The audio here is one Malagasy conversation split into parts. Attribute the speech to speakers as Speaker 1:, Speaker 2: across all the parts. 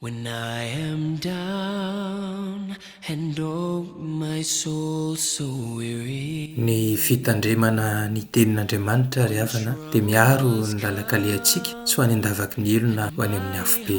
Speaker 1: When I am down and oh my soul so weary. Ny
Speaker 2: fitandremana ny Tenin'Andriamanitra, ry havana, dia miaro ny lalan-kalehantsika tsy ho any an-davaky ny elona ho any amin'ny afobe.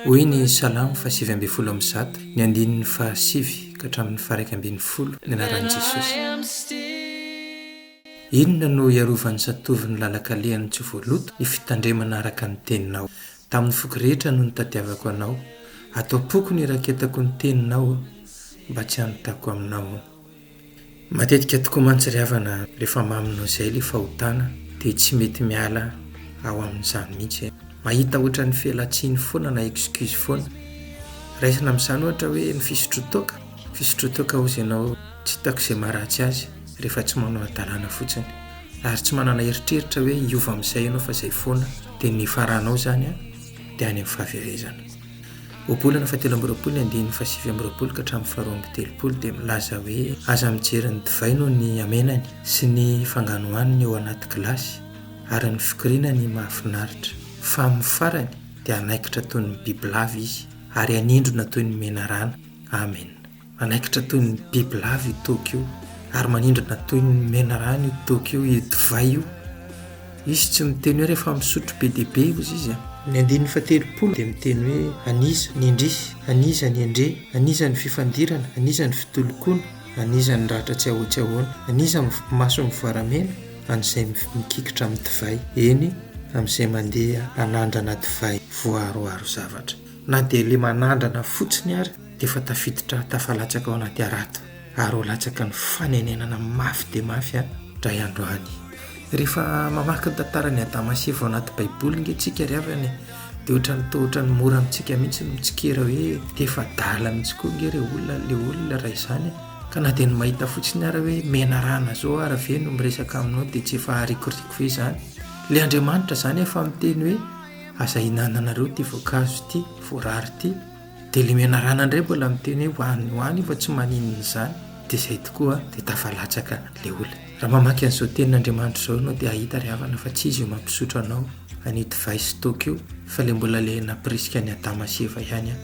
Speaker 2: Hoy ny Salamo fahasivy ambin'ny folo amby zato, ny andininy fahasivy ka hatramin'ny faharaika ambin'ny folo, ny anaran'i Jesosy. Inona no hiarovan'ny zatovo ny lalan-kalehany tsy ho voaloto? Ny fitandremana araka ny Teninao. Tamin'ny foko rehetra no nitadiavako anao, ato am-poko niraketako ny teninao mba tsy hanontako aminao. Matetika tokoa mantsy ry havana rehefa mamy noho izay ilay fahotana dia tsy mety miala ao amin'izany mihitsy. Mahita ohatran'ny felatsiny foana na excuse foana. Raisina amin'izany ohatra hoe ny fisotro toaka, fisotro toaka hozy ianao. tsy hitako izay maharatsy azy rehefa tsy manao hadalana fotsiny ary tsy manana eritreritra hoe hiova amin'izay ianao fa izay foana dia ny nifaranao izany an dia any amin'ny fahaverezana ohabolana fa telo amby roapolo ny andininy fa sivy amby roapolo ka hatramin'ny faharoa amby telopolo dia milaza hoe aza mijery ny divay noho ny amenany sy ny fanganohaniny eo anaty gilasy ary ny fikoriana ny mahafinaritra fa amin'ny farany dia hanaikitra toy ny bibilava izy ary hanindrona toy ny menarana amen Manaikitra toy ny bibilava io toaka io ary manindrana toy ny menarano io toaka io, io divay io. Izy tsy miteny hoe rehefa misotro be dia be ozy izy a! Ny andininy fahatelopolo dia miteny hoe an'iza ny indrisy, an'iza ny endre, an'iza ny fifandirana, an'iza ny fitolokona, an'iza ny ratra tsy ahoa tsy ahoana, an'iza ny maso mivoaramena, an'izay mikikitra amin'ny divay, eny, amin'izay mandeha hanandrana divay voaharoharo zavatra. Na dia ilay manandrana fotsiny ary. dia efa tafiditra tafalatsaka ao anaty harato ary ho latsaka ny fanenenana mafy dia mafy an-dray andro any. Rehefa mamaky ny tantaran'i Adama sy Eva ao anaty Baiboly ange tsika ry havana e, dia ohatran'ny toa ohatran'ny mora amintsika mihitsy ny mitsikera hoe dia efa adala mihitsy koa ange re olona le olona raha izany e. Ka na dia ny mahita fotsiny ara hoe menarana zao ara ve no miresaka aminao dia tsy efa harikoriko ve izany. Le Andriamanitra izany efa miteny hoe aza ihinananareo ity voankazo ity, voarara ity. Dia ilay menarana indray mbola miteny hoe ho any ho any io fa tsy maninona izany, dia izay tokoa dia tafalatsaka ilay olona. Raha mamaky an'izao tenin'Andriamanitra izao ianao dia hahita ry havana fa tsy izy io mampisotro anao an'io divay sy toaka io fa ilay mbola ilay nampirisika an'i Adama sy Eva ihany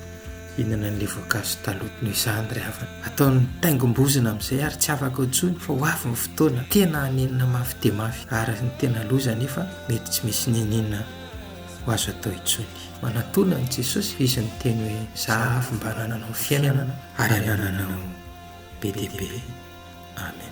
Speaker 2: hihinana an'ilay voankazo taloha. Noho izany ry havana, ataony taingim-bozona amin'izay ary tsy afaka intsony fa ho avy ny fotoana tena hanenina mafy dia mafy ary ny tena loza anefa mety tsy misy n'inon'inona. ho azo atao intsony. Manatona an'i Jesosy izy miteny hoe zahavo mba hanananao fiainana ary hanananao be dia be. Amen.